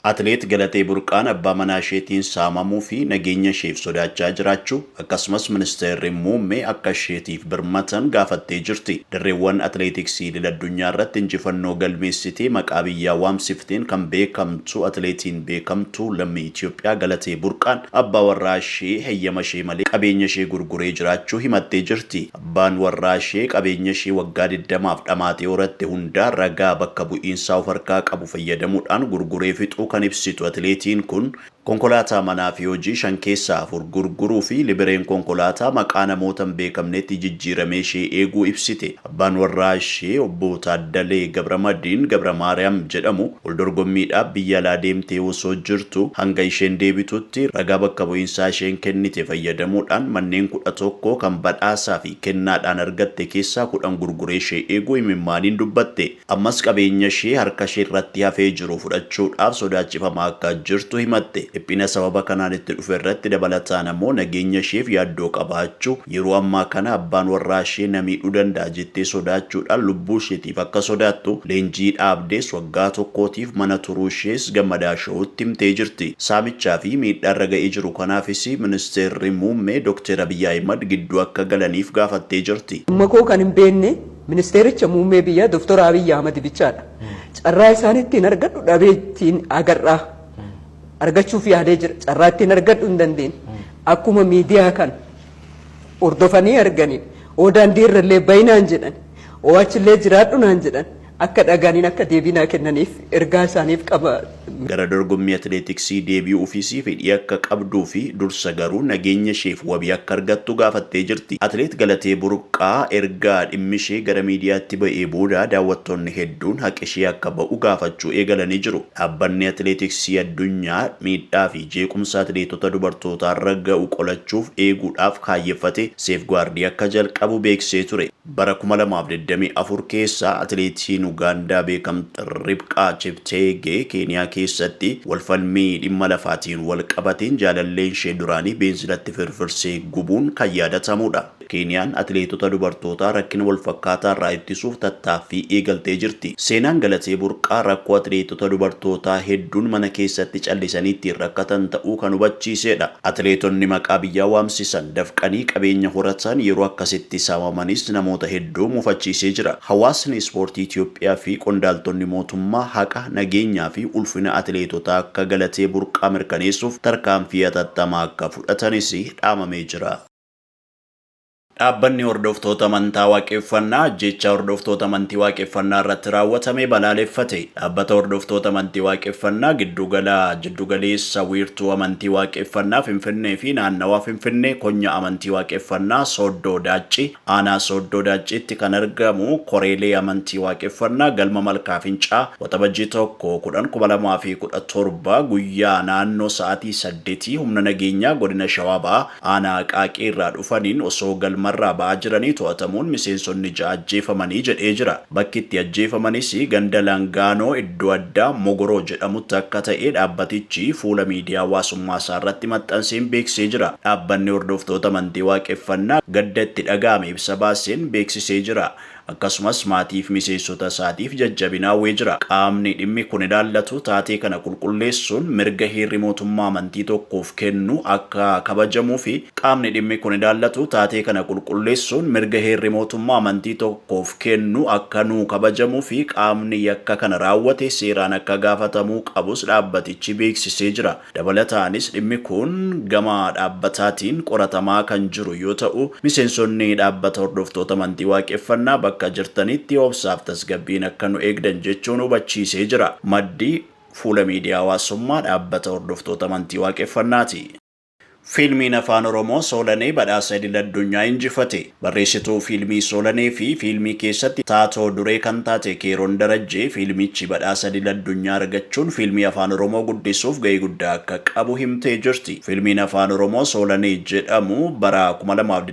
Atileet Galatee Burqaan abbaa manaa isheetiin saamamuu fi nageenya isheef sodaachaa jiraachuu, akkasumas Ministeerri Muummee akka isheetiif birmatan gaafattee jirti. Dirreewwan atileetiksii idil-addunyaa irratti injifannoo galmeessitee maqaa biyyaa waamsifteen kan beekamtu atileetiin beekamtuu lammii Itiyoophiyaa Galatee Burqaan abbaa warraa ishee heyyama ishee malee qabeenya ishee gurguree jiraachuu himattee jirti. Abbaan warraashee qabeenyashee waggaa digdamaaf dhamaatee horatte hundaa ragaa bakka bu'iinsaa of harkaa qabu fayyadamuudhaan gurguree fixuu kan ibsitu atileetiin kun, konkolaataa manaafi hojii shan keessaa afur gurguruufi libireen konkolaataa maqaa namoota hin beekamneetti jijjiiramee ishee eeguu ibsite. Abbaan warraashee Obbo Taaddalee Gabramadiin Gabramaariyaam jedhamu, Waldorgommiidhaaf biyya alaa deemtee osoo jirtuu hanga isheen deebitutti ragaa bakka bu'iinsaa isheen kennite fayyadamuudhaan manneen kudha tokko kan badhaasaa fi kennaadhaan argatte keessaa kudhan gurguree ishee eeguu imimmaaniin dubbatte. Ammas qabeenya ishee harka ishee irratti hafee jiru fudhachuudhaaf sodaachifamaa akka jirtu himatte. Dhiphina sababa kanaan itti dhufe irratti dabalataan ammoo nageenya isheef yaaddoo qabaachuu, yeroo ammaa kana abbaan warraa ishee na miidhuu danda'a jettee sodaachuudhaan lubbuu isheetiif if akka sodaattu leenjii dhaabdees waggaa tokkootiif mana turuu ishees Gammadaa Show'tti himtee jirti. Saamichaa fi miidhaa irra ga'ee jiru kanaafis Ministeerri Muummee Dokteer Abiy Ahimad gidduu akka galaniif gaafattee jirti. Dhimma koo kan hin beekne Ministeericha Muummee biyyaa Doktor Abiy Ahimad bichaadha. Carraa isaan ittiin argadhu dhabee ittiin agar'aa argachuuf yaalee jira. Carraa ittiin argadhu hin dandeenye. Akkuma miidiyaa kana. hordofanii arganii oo daandii irra illee bayi naan jedhan oo achi illee jiraadhu naan jedhan akka dhaga'aniin akka deebii naa kennaniif ergaa isaaniif qaba. Gara dorgommii atileetiksii deebi'uufis fedhii akka qabduu fi dursa garuu nageenya isheef wabii akka argattu gaafattee jirti. Atileet Galatee Burqaa erga dhimmi ishee gara miidiyaatti ba'ee booda daawwattoonni hedduun haqi ishee akka ba'u gaafachuu eegalanii jiru. Dhaabbanni Atileetiksii Addunyaa miidhaa fi jeequmsa atileetota dubartootaarra ga'u qolachuuf, eeguudhaaf, kaayyeffate Seefgaardii akka jalqabu beeksisee ture. Bara kuma lamaa fi digdamii afur keessa atileetiin Ugaandaa beekamtu Ribqaa Chepteegee Keeniyaa keessatti wal falmii dhimma lafaatiin wal qabateen jaalalleen ishee duraanii beenzilatti firfirsee gubuun kan yaadatamuudha. Keeniyaan atileetota dubartootaa rakkina walfakkaataa irraa ittisuuf tattaaffii eegaltee jirti. Seenaan Galatee Burqaa rakkoo atileetota dubartootaa hedduun mana keessatti callisanii ittiin rakkatan ta'uu kan hubachiiseedha. Atileetonni maqaa biyyaa waamsisan, dafqanii qabeenya horatan, yeroo akkasitti saamamanis namoota hedduu mufachiisee jira. Hawaasni ispoortii Itoophiyaa fi qondaaltonni mootummaa haqa, nageenyaa fi ulfina atileetotaa akka Galatee Burqaa mirkaneessuuf tarkaanfii hatattamaa akka fudhatanis dhaamamee jira. Dhaabbanni Hordoftoota Amantaa Waaqeffannaa ajjeechaa hordoftoota amantii Waaqeffannaa irratti raawwatame balaaleffate. Dhaabbata Hordoftoota Amantii Waaqeffannaa Giddugala Jiddu Galeessa Wiirtuu Amantii Waaqeffannaa Finfinnee fi Naannawaa Finfinnee Konyaa Amantii Waaqeffannaa Sooddoo Daaccii Aanaa Sooddoo Daacciitti kan argamu Koreelee Amantii Waaqeffannaa Galma Malkaa Fincaa Waxabajjii 1, 10, 2017 guyyaa naannoo sa'aatii 8:00 humna nageenyaa Godina Shawaa Bahaa Aanaa Aqaaqii irraa dhufaniin osoo galmarraa ba'aa jiranii to'atamuun miseensonni ja'a ajjeefamanii jedhee jira. Bakki itti ajjeefamanis ganda Langaanoo iddoo addaa Mogoroo jedhamutti akka ta'e dhaabbatichi fuula miidiyaa hawaasummaa isaa irratti maxxanseen beeksisee jira. Dhaabbanni hordoftoota amantii Waaqeffannaa gadda itti dhaga'ame ibsa baaseen beeksisee jira. akkasumas maatiif miseensota isaatiif jajjabina hawwee jira. Qaamni dhimmi kun ilaallatu taatee kana qulqulleessuun mirga heerri mootummaa amantii tokkoof kennu akka kabajamuufi Qaamni dhimmi kun ilaallatu taatee kana qulqulleessuun mirga heerri mootummaa amantii tokkoof kennu akka nuu kabajamuufi qaamni yakka kana raawwate seeraan akka gaafatamuu qabus dhaabbatichi beeksisee jira. Dabalataanis dhimmi kun gama dhaabbataatiin qoratamaa kan jiru yoo ta'u, miseensonni dhaabbata hordoftoota amantii Waaqeffannaa bakka jirtanitti obsaaf tasgabbiin akka nu eegdan jechuun hubachiisee jira. Maddi, Fuula miidiyaa hawaasummaa dhaabbata hordoftoota amantii Waaqeffannaati. Fiilmiin Afaan Oromoo Soolanee badhaasa idil addunyaa injifate. Barreessituu fiilmii Soolanee fi fiilmii keessatti taatoo duree kan taate Keeroon Darajjee fiilmichi badhaasa idil addunyaa argachuun fiilmii Afaan Oromoo guddisuuf ga'ee guddaa akka qabu himtee jirti. Fiilmiin Afaan Oromoo Soolanee jedhamu bara kuma lamaa fi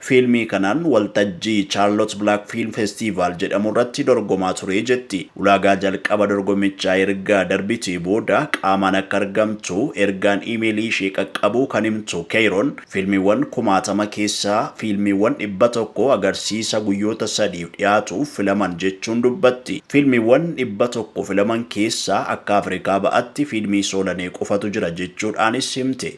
Fiilmii kanaan waltajjii Charlotte Black Film Festival jedhamu irratti dorgomaa ture jetti. Ulaagaa jalqaba dorgommichaa erga darbitee booda qaamaan akka argamtu ergaan iimeelii ishee qaqqabuu kan himtu Keeyroon, fiilmiiwwan kumaatama keessaa fiilmiiwwan dhibba tokko agarsiisa guyyoota sadiif dhiyaatuuf filaman jechuun dubbatti. Fiilmiiwwan dhibba tokko filaman keessaa akka Afrikaa Ba'atti fiilmii Soolanee qofatu jira jechuudhaanis himte.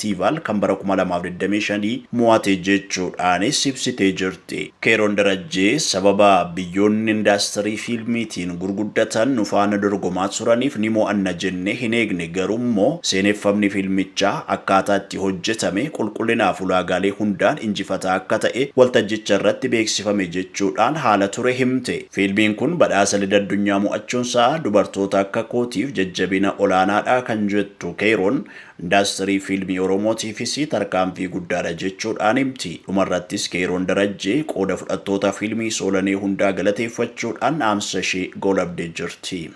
Festival kan bara 2025 mo'ate jechuudhaanis ibsitee jirti. Keeroon Darajjee sababa biyyoonni indaastirii fiilmiitiin gurguddatan nu faana dorgomaa turaniif ni mo'anna jennee hin eegne garuummoo seeneffamni fiilmichaa akkaataa itti hojjetame qulqullinaaf ulaagaalee hundaan injifataa akka ta'e waltajjicharratti beeksifame jechuudhaan haala ture himte. Fiilmiin kun badhaasa Idil Addunyaa mo'achuunsaa dubartoota akka kootiif jajjabina olaanaadha kan jettu Keeroon Indaastirii Fiilmii Oromootiifis tarkaanfii guddaadha jechuudhaan himti. Dhumarrattis Keeyroon Darajjee qooda fudhattoota Fiilmii Soolanee hundaa galateeffachuudhaan dhaamsa ishee goolabdee jirti.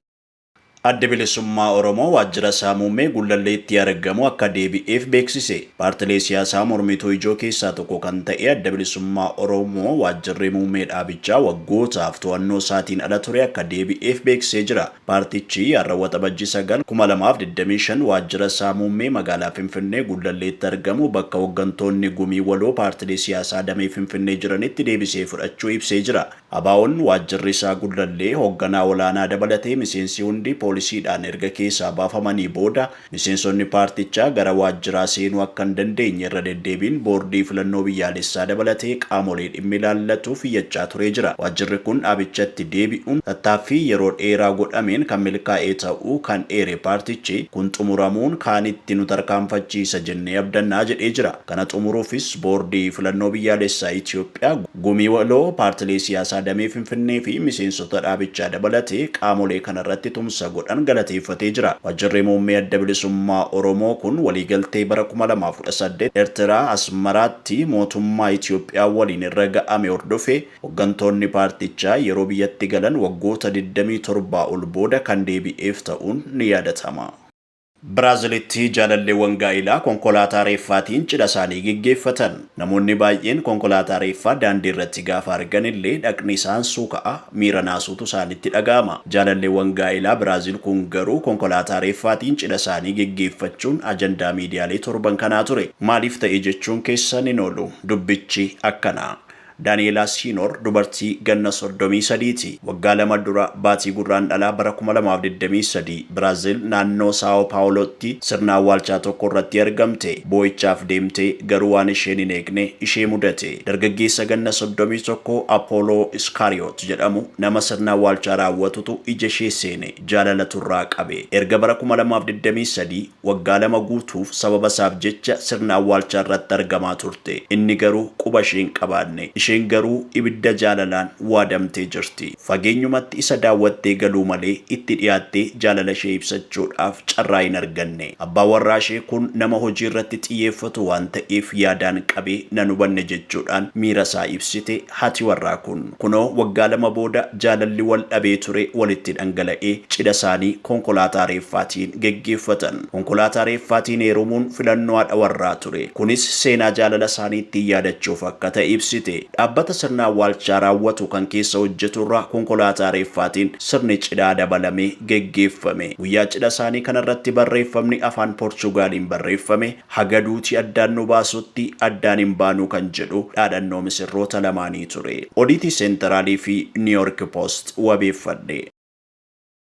Addi Bilisummaa Oromoo waajjira isaa muummee Gullalleetti argamu akka deebi'eef beeksise. Paartilee siyaasaa mormituu ijoo keessaa tokko kan ta'e Adda Bilisummaa Oromoo waajjirri muummee dhaabichaa waggootaaf to'annoo isaatiin ala ture akka deebi'eef beeksisee jira. Paartichi har'a Waxabajjii 9, 2025 waajjira isaa muummee magaalaa Finfinnee Gullalleetti argamu bakka hoggantoonni Gumii Waloo paartilee siyaasaa damee Finfinnee jiranitti deebisee fudhachuu ibsee jira. ABOn waajjirri isaa Gullallee hogganaa olaanaa dabalatee miseensi hundi poolisiidhaan erga keessaa baafamanii booda, Miseensonni paartichaa gara waajjiraa seenuu akka hin dandeenye irra deddeebiin Boordii Filannoo Biyyaalessaa dabalatee qaamolee dhimmi ilaallatuuf iyyachaa turee jira. Waajjirri kun dhaabichatti deebi'uun tattaaffii yeroo dheeraa godhameen kan milkaa'e ta'uu kan eere paartichi, kun xumuramuun kaanitti nu tarkaanfachiisa jennee abdanna jedhee jira. Kana xumuruufis Boordii Filannoo Biyyaalessaa Itiyoophiyaa, Gumii Waloo, Paartilee Siyaasaa Damee Finfinnee fi Miseensota dhaabichaa dabalatee qaamolee kana irratti tumsa godhan galateeffatee jira. Wajjirri Muummee Adda Bilisummaa Oromoo kun waliigaltee bara 2018 Ertiraa, Asmaraatti mootummaa Itiyoophiyaa waliin irra ga'ame hordofee hoggantoonni paartichaa yeroo biyyatti galan waggoota 27 ol booda kan deebi'eef ta'uun ni yaadatama. Biraazilitti jaalalleewwan gaa'ilaa konkolaataa reeffaatiin cidhasaanii geggeeffatan. Namoonni baay'een konkolaataa reeffaa daandiirratti gaafa arganillee dhaqni isaan suuka'a, miira naasuutu isaanitti dhaga'ama. Jaalalleewwan gaa'ilaa Biraazil kun garuu konkolaataa reeffaatiin cidhasaanii geggeeffachuun ajandaa miidiyaalee torban kanaa ture. Maaliif ta'e jechuun keessa hinoolu. Dubbichi akkana. Daani'eelaa Siinoor dubartii ganna soddomii sadii ti. Waggaa lama dura baatii Gurraandhalaa bara kuma lamaa fi digdamii sadii Biraazil naannoo Saawoo Paawulootti sirna awwaalchaa tokko irratti argamte. Boo'ichaaf deemtee garuu waan isheen hin eegne ishee mudate. Dargaggeessa ganna soddomii tokko Apooloo Iskaariyoot jedhamu nama sirna awwaalchaa raawwatutu ija ishee seene. Jaalalatu irraa qabe. Erga bara kuma lamaa fi digdamii sadii Waggaa lama guutuuf sababa isaaf jecha sirna awwaalchaa irratti argamaa turte. Inni garuu quba ishee hin qabaanne. Isheen garuu ibidda jaalalaan waadamtee jirti. Fageenyumatti isa daawwattee galuu malee itti dhiyaattee jaalala ishee ibsachuudhaaf carraa hin arganne. Abbaan warraa ishee kun nama hojii irratti xiyyeeffatu waan ta'eef yaadaan qabee nan hubanne jechuudhaan miira isaa ibsite haati warraa kun. Kunoo waggaa lama booda jaalalli wal dhabee ture walitti dhangala'ee cidha isaanii konkolaataa reeffaatiin geggeeffatan. Konkolaataa reeffaatiin heerumuun filannoo haadha warraa ture. Kunis seenaa jaalala isaanii ittiin yaadachuuf akka ta'e ibsite. Dhaabbata sirna awwaalchaa raawwatu kan keessa hojjetu irraa konkolaataa reeffaatiin sirni cidhaa dabalamee geggeeffame. Guyyaa cidha isaanii kanarratti barreeffamni afaan Porchugaaliin barreeffame Haga duuti addaan nu baasutti addaan hin baanu kan jedhu dhaadhannoo misirroota lamaanii ture. Odiitii Seenteraalii fi Niiyoorki Poost wabeeffadhe.